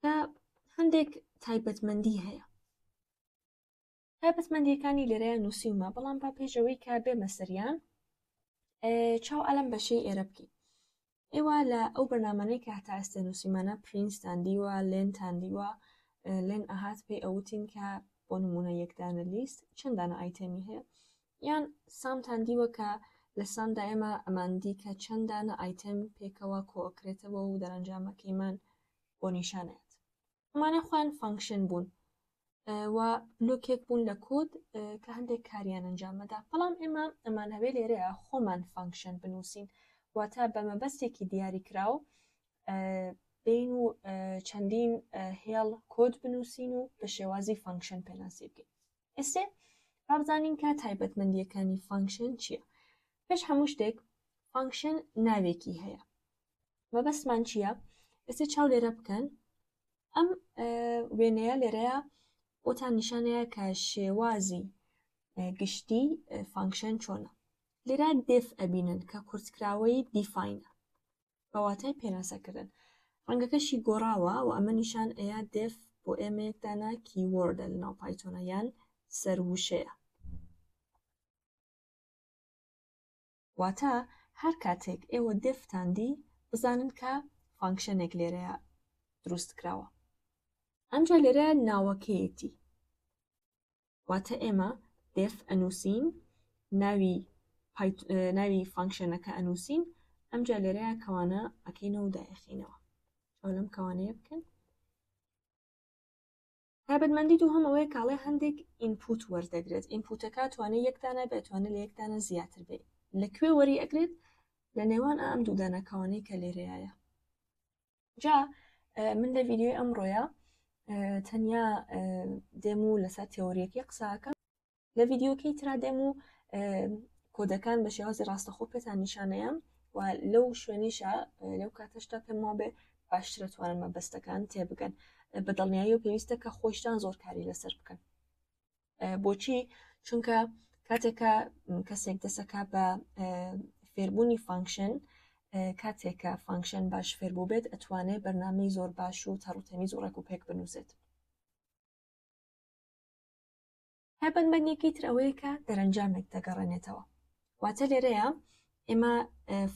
کە هەندێک تایبەتمەندی هەیە تایبەتمەندیەکانی لێرەیان نووسیومە بەڵام با پێشەوەی کا بێمە سەریان چاو ئەلم بەشی ئێرە بکەین ئێوە لە ئەو بەرنمانەی کە هەتا ئێستێ نووسیمانە پرینستان دیوە لێنتان دیوە لێن ئەهات پێی ئەوتین کە بۆ نمونە یەکدانە لیست چەندانە ئایتەمی هەیە یان سامتان دیوە کە لە سامدا ئێمە ئەمان دی کە چەند دانە ئایتێم پێکەوە کۆکرێتەوە و دەرەنجامەکەیمان بۆ نیشان ئەیات ئەمانە خۆیان فانکشن بوون و بلوکێک بوون لە کۆد کە هەندێک کاریان ئەنجامەدا بەڵام ئێمە ئەمان هەوێ لێرەیە خۆمان فانکشن بنووسین واتە بە مەبەستێکی دیاری کراو بین و چەندین هێڵ کۆد بنووسین و بە شێوازی فانکشن پێناسی بکەین ئێستێ با بزانین کە تایبەتمەندیەکانی فانکشن چییە پێش هەموو شتێک فانکشن ناوێکی هەیە مەبەستمان چییە ئێستا چاو لێرە بکەن ئەم وێنەیە لێرەیە بۆتان نیشانەیە کە شێوازی گشتی فانکشن چۆنە لێرا دف ئەبینن کە کورتکراوەی دیفاینە بە واتای پێناسەکردن ڕەنگەکەشی گۆڕاوە و ئەمە نیشان ئەیا دێف بۆ ئێمەیەکدانە کیوەردە لە ناو پایتۆنە یان سەرووشەیە واتە هەر کاتێک ئێوە دێفتان دی بزانن کە فانکشنێک لێرەیە دروست کراوە ئەمجا لێرە ناوەکەیەتی واتە ئێمە دێف ئەنووسین ناوی ناوی فانکشنەکە ئەنووسین ئەمجا لێرەیە کەوانە ئەکەینەوە دایەخینەوە ئەو لەم کەوانەیە بکەن تابەتمەندی دوو هەم ئەوەیە کاڵێ هەندێک ئینپوت وەردەگرێت ئینپوتەکە توانێت یەکدانە بێتوانە لە یەکدانە زیاتر بێ لەکوێ وەری ئەگرێت لە نێوان ئەم دوودانەکەوانەی کە لێرەیە جا من لە ڤیددیوی ئەمڕۆیە تەنیا دێم و لەسەر تێۆریەکەی قساکە لە ڤیددیوکەی ترا دێم و کۆدەکان بە شێوازی ڕاستەخۆ پێتان نیشانەیە و لەو شوێنیشە لەو کاتەشتا پێم وابێ باشترە توانن مەبەستەکان تێبگەن بە دڵنیایی و پێویستە کە خۆشتان زۆر کاری لەسەر بکەن بۆچی چونکە کاتێکە کەسێک دەسەکە بە فێربوونی فانکشن کاتێکە فانکشن باش فێربوو بێت ئەتوانێت بەرنامەی زۆر باش و تەڕوتەمیز و ڕێک و پێک بنووسێت هەبەن بەندێکی تر ئەوەیە کە دەرەنجامێک دەگەڕێنێتەوە واتە لێرەیە ئێمە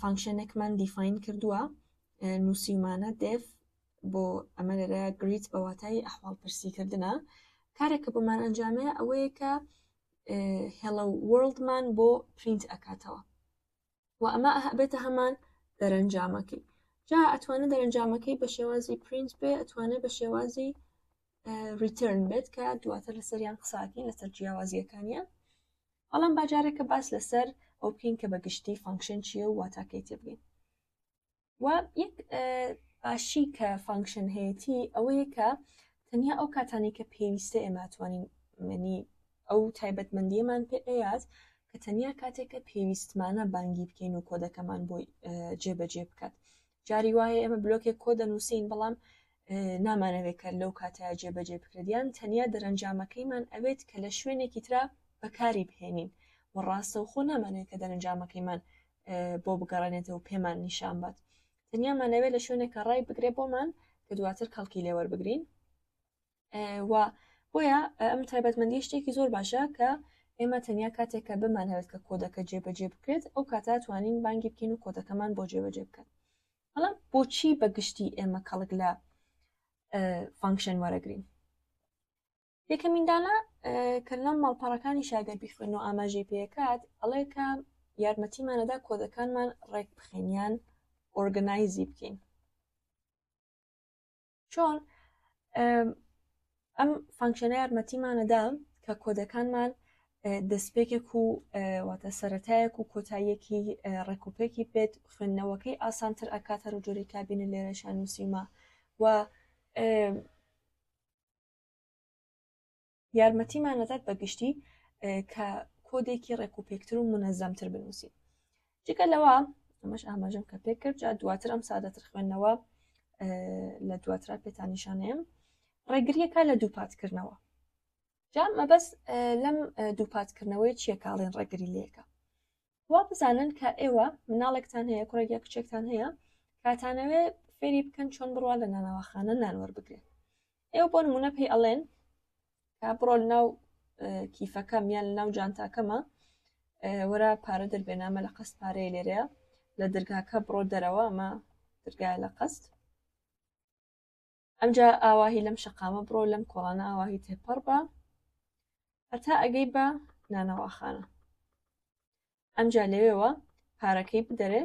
فانکشنێکمان دیفین کردووە نووسیمانە دف بۆ ئەمە لێرە گریت بە واتای ئەحواڵ پرسیکردە کارێکە بۆمان ئەنجامێ ئەوەیە کە هێڵە وەرلدمان بۆ پرینت ئەکاتەوە و ئەمە بێتە هەمان دەرەنجامەکەی جا ئەتوانە دەرەنجامەکەی بە شێوازی پرینت بێ ئەتوانێت بە شێوازی ریترن بێت کە دواتر لەسەریان قساکەین لەسەر جیاوازیەکانیان بەڵام با جارێکە باس لەسەر ئەو بکەین کە بە گشتی فانکشن چیە و واتاکەی تێبگەین و یەک باشی کە فانکشن هەیەی ئەوەیە کە تەنیا ئەو کاتانی کە پێویستە ئێمە توانین منی ئەو تایبەتمەندیەمان پێ ئەیات کە تەنیا کاتێکە پێویستمانە بانگی بکەین و کۆدەکەمان بۆی جێبەجێ بکات جاری وایە ئێمە بلۆکێک کۆ دەنووسین بەڵام نامانەوێت کە لەو کاتەیە جێبەجێ بکرێت یان تەنیا دەرەنجامەکەیمان ئەوێت کە لە شوێنێکی ترا بەکاری بهێنین و ڕاستەوخۆ نامانەوێت کە دەرەنجامەکەیمان بۆ بگەڕێنێتەوە پێمان نیشان بات تەنیامانەوێت لە شوێنێکە ڕای بگرێ بۆمان کە دواتر کەڵکی لێوەربگرین و بۆیە ئەم تایبەتمەندی شتێکی زۆر باشە کە ئێمە تەنیا کاتێکە بمانەوێت کە کۆدەکە جێبەجێ بکرێت ئەو کاتا توانین بانگی بکەین و کۆدەکەمان بۆ جێبەجێ بکەن بەڵام بۆچی بەگشتی ئێمە کەڵک لە فانکشن وەرەگرین یەکەمیندانە کە لەم ماڵپەڕەکانی شاگەر بیخوێن و ئاماژەی پێکات ئەڵێ کە یارمەتیمانەدا کۆدەکانمان ڕێک بخێنیان ئۆرگنایزی بکەین چۆن ئەم فانکشنە یارمەتیمانەدا کە کۆدەکانمان دەستپێکێک و واتە سەتایەک و کۆتاییەکی ڕێکوپێکی بێت خوێندنەوەکەی ئاسانتر ئەکاتەر و جۆری کابینە لێرەشان نووسیمە و یارمەتیمان ئەدات بە گشتی کە کۆدێکی ڕێکوپێکتر و منەزەمتر بنووسین جگە لەوە ئەمەش ئاماژەم کە پێ کرد جا دواتر ئەم سادەتر خوێندنەوە لە دواترا پێتانیشانەیەم ڕێگریەکە لە دووپاتکردنەوە جا مەبەست لەم دووپاتکردنەوەی چیەکاڵێن ڕێگری لێکە وا بزانن کە ئێوە مناڵێکتان هەیە کوڕێک یا کچێکتان هەیە کاتانەوێ فێری بکەن چۆن بڕوا لە نانەواخانە نانوەەر بگرێت ئێوە بۆ نمونە پێی ئەڵێن کا بڕۆل ناو کیفەکەم یان ناو جانتاکەمە وەرا پارە دەربێنامە لە قەست پارەیە لێرەیە لە دەرگاکە بڕۆ دەرەوە ئەمە دەرگای لە قەست ئەمجا ئاواهی لەم شەقامە بڕۆ لەم کۆڵانە ئاواهی تێپەڕ بە هەتا ئەگەی بە نانەواخانە ئەمجا لەوێەوە پارەکەی بدەرێ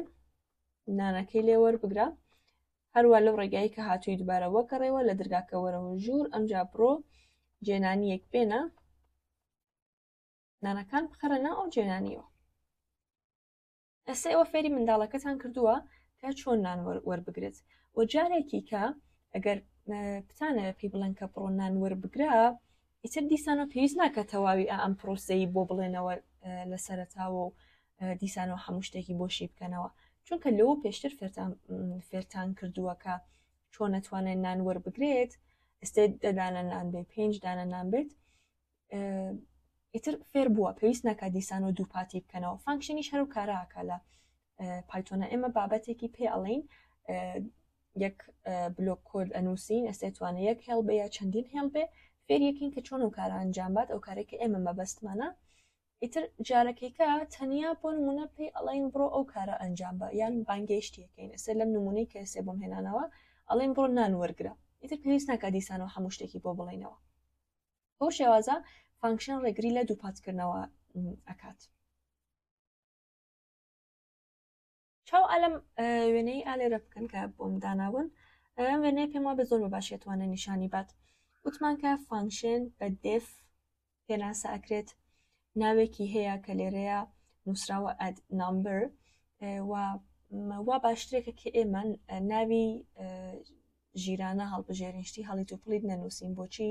نانەکەی لێ وەربگرە هەروە لەو ڕێگایی کە هاتووی دوبارە وەگەڕێەوە لە درگاکەوەرەوە ژوور ئەمجا بڕۆ جێنانیەک بێنە نانەکان بخەرە ناو ئەو جێنانیەوە ئێستا ئێوە فێری منداڵەکەتان کردووە کە چۆن نان وەربگرێت و جارێکی کە ئەگەر بتانە پێی بڵێن کە بڕۆ نان وەربگرە ئیتر دیسانەوە پێویست ناکە تەواوی ئەم پرۆسەی بۆ بڵێنەوە لە سەرتاوە و دیسانەوە هەموو شتێکی بۆشی بکەنەوە چونکە لەوە پێشتر فێرتان فێرتان کردووەکە چۆن نتوانێت نان وەربگرێت ئستێ دەدانە نان بێ پێنج دانە نان بێت ئیتر فێر بووە پێویست ناکە دیسان و دووپاتی بکەنەوە فانکشنیش هەرو کاراکە لە پایتۆنە ئێمە بابەتێکی پێ ئەڵین یەک بلۆک کۆد ئەنووسین ئەسێتوانە یەک هێڵ بێ یا چەندین هێڵ بێ فێر یەکین کە چۆن و کارە ئەنجام بات ئەو کارێکە ئێمە مەبەستمانە ئیتر جارەکەیکە تەنیا بۆ نمونە پێی ئەڵین بڕۆ ئەو کارە ئەنجام بە یان بانگەیشتیەکەین ئەسێ لەم نمونەی کە ئێسێ بۆم هێنانەوە ئەڵێن بڕۆ نان وەرگرە ئیتر پێویست ناکە دیسانەوە هەموو شتێکی بۆ بڵێنەوە بەو شێوازە فانکشن ڕێگری لە دووپاتکردنەوە ئەکات چاو ئالم وێنەی ئالێرە بکەن کە بۆم داناون ئەم وێنەیە پێم وا بە زۆر بە باشێتوانە نیشانی بات وتمان کە فانکشن بە دف پێناسە ئەکرێت ناوێکی هەیە کە لێرەیە نووسراوە ئەد نامبر و وا باشترێکە کە ئێمە ناوی ژیرانە هەڵبژێرین شتی هەڵیت و پڵیت نەنووسین بۆچی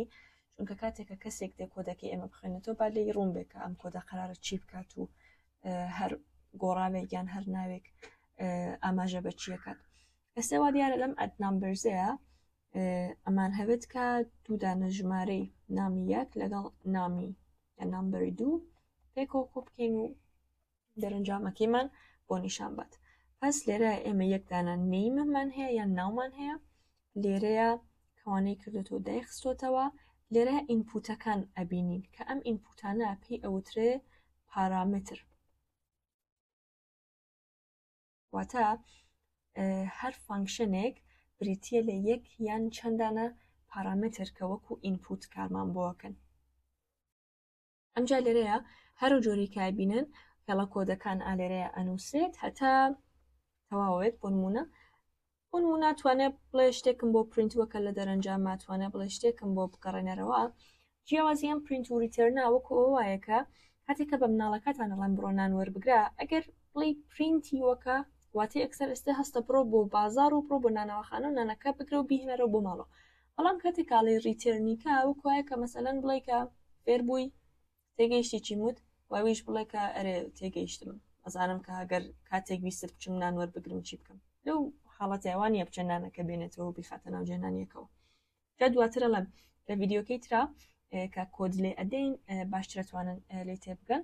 چونکە کاتێکە کەسێک دێ کۆدەکەی ئێمە بخوێنێتەوە با لێی ڕوون بێ کە ئەم کۆدە قرارە چی بکات و هەر گۆڕاوێک یان هەر ناوێک ئاماژە بە چیەکات ئێستا وا دیارە لەم ئەت نامبرزەیە ئەمان هەوێت کە دوودانە ژمارەی نامی یەک لەگەڵ نامی نامبەری دوو پێکەوە کۆ بکەین و دەرەنجامەکەیمان بۆ نیشان بات پس لێرە ئێمە یەکدانە نیمەمان هەیە یان ناومان هەیە لێرەیە کەوانەی کردوەوە دایخستۆتەوە لێرە ئینپوتەکان ئەبینین کە ئەم ئینپوتانە پێی ئەوترێ پارامتر واتە هەر فانکشنێک بریتە لە یەک یان چەندانە پارامتر کە وەکو ئینپوت کارمان بۆکەن ئەمجا لێرەیە هەرو جۆری کای بینن هێڵە کۆدەکان ئالێرەیە ئەنووسێت هەتا تەواوێت بۆ نمونە بۆ نمونە ناتوانێت بڵێ شتێکم بۆ پرینت وەکە لە دەرەنجام ماتوانێت بڵێ شتێکم بۆ بگەڕێنەرەوە جیاوازیان پرینت و ریتێرنا وەکو ئەو وایەکە هاتێکە بە مناڵەکەتان ئەڵەن بڕۆ نان وەربگرە ئەگەر بڵی پرینتی وەکە واتی ئەکسەر ئێستا هەستە بڕۆ بۆ بازار و بڕۆ بۆ نانەوەخانە و نانەکە بگرە و بهێنەرەوە بۆ ماڵەوە بەڵام کاتێک کاڵی ڕیتێرنی کا وەک وایە کە مەسەلەن بڵێ کە فێر بووی تێگەیشتی چی وت واویش بڵێ کە ئەرێ تێگەیشتم ئەزانم کە هەگەر کاتێک ویستت بچم نان وەربگرم چی بکەم لەو حاڵەتی ئەوانە بچێ نانەکە بێنێتەوە بیخاتە ناو جێنانیەکەوە کە دواترە لەم لە ڤیددیوکەی ترا کە کۆدلێ ئەدەین باشترە توانن لێ تێبگەن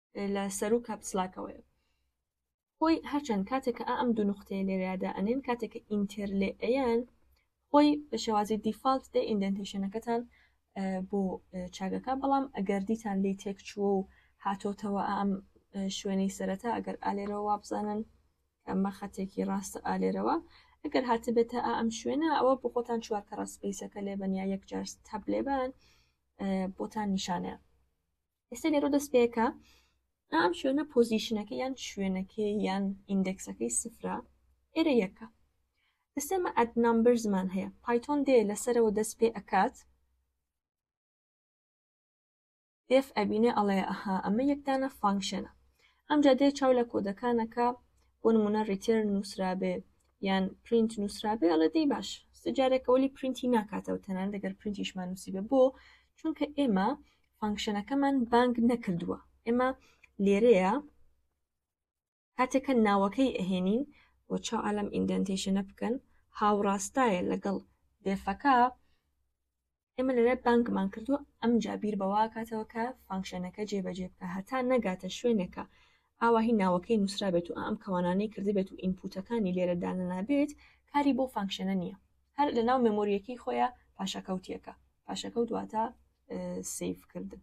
لە سەر و کاپسلاکەوەیە خۆی هەرچەند کاتێک کە ئەم دوو نقطەیە لێرەدا ئەنێن کاتێک ئینتەر لێ ئەیان خۆی بە شێوازی دیفاالت دێ ئیندنتیشنەکەتان بۆ چاگەکە بەڵام ئەگەر دیتان لی تێک چووە و هاتۆتەوە ئەم شوێنەی سەرەتا ئەگەر ئالێرەوە وابزانن ئەمە خەتێکی ڕاستە ئالێرەوە ئەگەر هاتبێتە ئەم شوێنە ئەوە بۆ خۆتان چوار کە ڕسپیسەکە لێبەن یا یەکجار تەب لێبان بۆتان نیشانە ئێستا لێرە دەست پێکە ئەم شوێنە پۆزیشنەکە یان شوێنەکە یان ئیندەکسەکەی سفرە ئێرە یەکە ئێستێمە ئەت نمبەر زمان هەیە پایتۆن دێ لەسەرەوە دەست پێ ئەکات دف ئەبینێ ئەڵێ ئەها ئەمە یەکدانە فانکشنە ئەمجا دێ چاو لە کۆدەکانەکە بۆ نمونە ریتێر نووسرابێ یان پرینت نووسرابێ ئەڵە دەی باش سجارێکەوەلی پرینتی ناکاتەوە تەنان دەگەر پرینتیشمان نووسیبێ بۆ چونکە ئێمە فانکشنەکەمان بانگ نەکردووە ئێمە لێرەیە کاتێکە ناوەکەی ئەهێنین بۆ چاو ئالەم ئیندنتیشنە بکەن هاوڕاستایە لەگەڵ دێفەکە ئێمە لەرێ بانکمان کردو ئەم جابیر بەواکاتەوە کە فانکشنەکە جێبەجێ بکە هەتا نەگاتە شوێنێکە ئاواهی ناوەکەی نووسرا بێت و ئەم کەوانانەی کردی بێت و ئینپوتەکانی لێرە دانەنابێت کاری بۆ فانکشنە نییە هەر لە ناو مەمۆریەکەی خۆیان پاشەکەوتیەکە پاشەکەوت واتە سیف کردم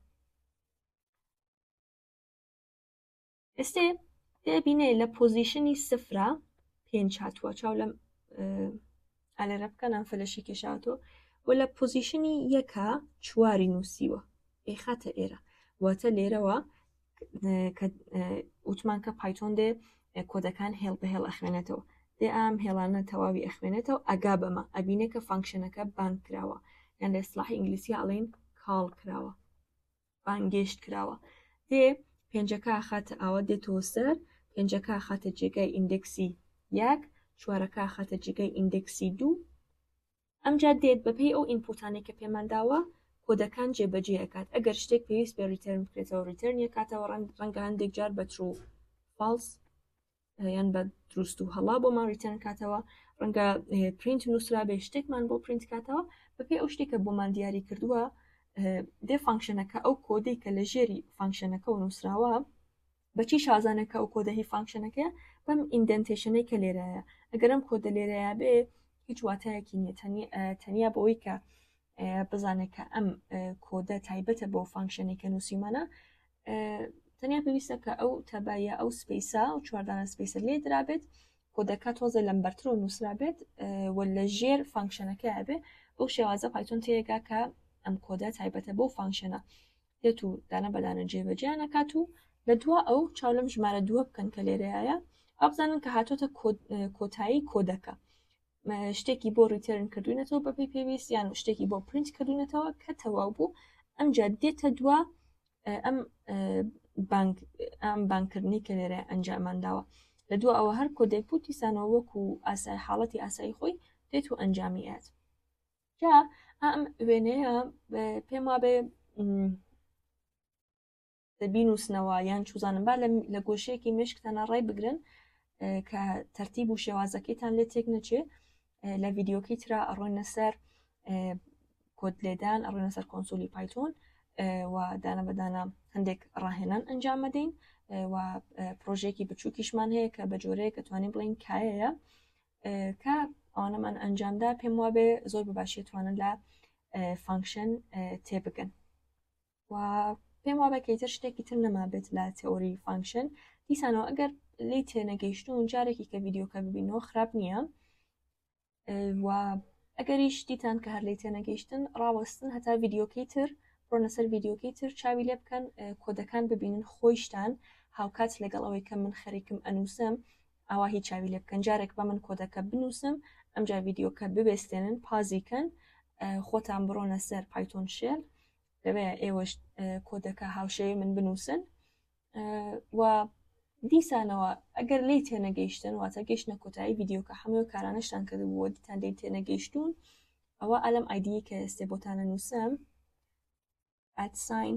ئێستێ دەبینێ لە پۆزیشنی سفرە پێنج هاتووە چاو لەم ئالێرە بکەنان فلەشی کێشاتۆ و لە پۆزیشنی یەکە چواری نووسیوە ئەیخاتە ئێرە واتە لێرەوە کە وتمان کە پایتۆن دێ کۆدەکان هێڵ بە هێڵ ئەخوێنێتەوە دێ ئام هێڵانە تەواوی ئەخوێنێتەوە ئەگا بەمە ئەبینێ کە فانکشنەکە بان کراوە یان لە سلاحی ئینگلیسی ئاڵین کاڵ کراوە بانگێشت کراوە دێ پێنجەکە خاتە ئاوە دێتەوە سەر پێنجەکە خاتە جێگای ئیندکسی یەک چوارەکە خاتە جێگای ئیندکسی دوو ئەمجا دێت بەپێی ئەو ئینپوتانەی کە پێمان داوە کۆدەکان جێبەجێ ئەکات ئەگەر شتێک پێویست بێ ریتێرن بکرێتەوە ریتێرن یەکاتەوە ڕەنگە هەندێک جار بە ترو فالس یان بە دروست و هەڵا بۆمان ریتێرن کاتەوە ڕەنگە پرینت نووسرا بێ شتێکمان بۆ پرینت کاتەوە بەپێ ئەو شتێکە بۆمان دیاری کردووە دێ فانکشنەکە ئەو کۆدەی کە لە ژێری فانکشنەکە و نووسراوە بەچی شازانە کە ئەو کۆدە هی فانکشنەکەیە بەم ئیندنتێشنەی کە لێرایە ئەگەر ئەم کۆدە لێرەیە بێ هیچ واتایەکی نیە تەنیا بەوەی کە بزانێت کە ئەم کۆدە تایبەتە بۆ فانکشنی کە نووسیمانە تەنیا پێویستە کە ئەو تەبایە ئەو سپیسا و چواردانە سپیسە لێ درابێت کۆدەکە تۆزە لەم بەرتر و نووسرابێت و لە ژێر فانکشنەکە بێ بەو شێوازە پایتۆن تێگا کە ئەم کۆدە تایبەتە بۆ فانکشنە دێت و دانە بەدانە جێبەجیان ئەکات و لە دوا ئەو چاو لەم ژمارە دووە بکەن کە لێرەیە ئەبزانن کە هاتۆتە کۆتایی کۆدەکە شتێکی بۆ ریتێرن کردوینەتەوە بەپی پێویست یان شتێکی بۆ پرینت کردوینەتەوە کە تەواو بوو ئەمجا دێتە دوا ئەم بانک ئەم بانکردنی کە لێرە ئەنجامان داوە لە دو ئەوە هەر کۆدێک بوو دیسانەوە وەکو ئاسای حاڵەتی ئاسایی خۆی دێت و ئەنجامی ئەات جا ئەم وێنەیە پێم وابێ بینوسنەوە یان چوزانم با لە گۆشەیەکی مشکتانە ڕای بگرن کە تەرتیب و شێوازەکەیتان لێ تێک نەچێ لە ڤیددیوکەی تررا ئەڕۆنە سەر کۆت لێدان ئەڕۆنە سەر کۆنسولی پایتۆن و دانە بەدانە هەندێک ڕاهێنان ئەنجام مەدەین و پرۆژێکی بچووکیشمان هەیە کە بە جۆرەیە کە توانین بڵین کایەیە کە ئەوانەمان ئەنجامدا پێم وابێ زۆر بە باشی توانن لە فانکشن تێبگەن و پێم وابە کەیتر شتێکی تر نەما بێت لە تئۆری فانکشن دیسانەوە ئەگەر لی تێنەگەیشتون جارێکی کە ڤیددیوکە ببینەوە خراپ نییە و ئەگەری شتیتان کە هەر لی تێنەگەیشتن ڕاوەستن هەتا ڤیددیوکەی تر ڕۆنە سەر ڤیددیوکەی تر چاوی لێ بکەن کۆدەکان ببینن خۆیشتان هاوکات لەگەڵ ئەوەی کە من خەریکم ئەنووسم ئاوا هی چاوی لێ بکەن جارێک بە من کۆدەکە بنووسم ئەمجا ڤیددیوکە ببێستێنن پازیکەن خۆتان بڕۆنە سەر پایتۆن شێل لەوێ ئێوەش کۆدەکە هاوشێوی من بنووسن و دیسانەوە ئەگەر لی تێنەگەیشتن واتە گەشتە کۆتایی ڤیددیوکە هەموو کارانەشتان کردبووە دیتان لی تێنەگەیشتون ئەوە ئەلم ئایدی کە ئێستێ بۆتانە نووسم ئەتساین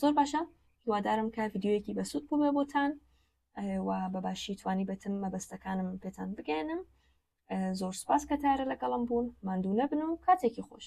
زۆر باشە هیوادارم کە ڤیددیوەکی بەسوود بووێ بۆتان و بەباشی توانی بێتم مەبەستەکانم پێتان بگەێنم زۆر سپاس کە تارە لەگەڵم بوون ماندوو نەبن و کاتێکی خۆش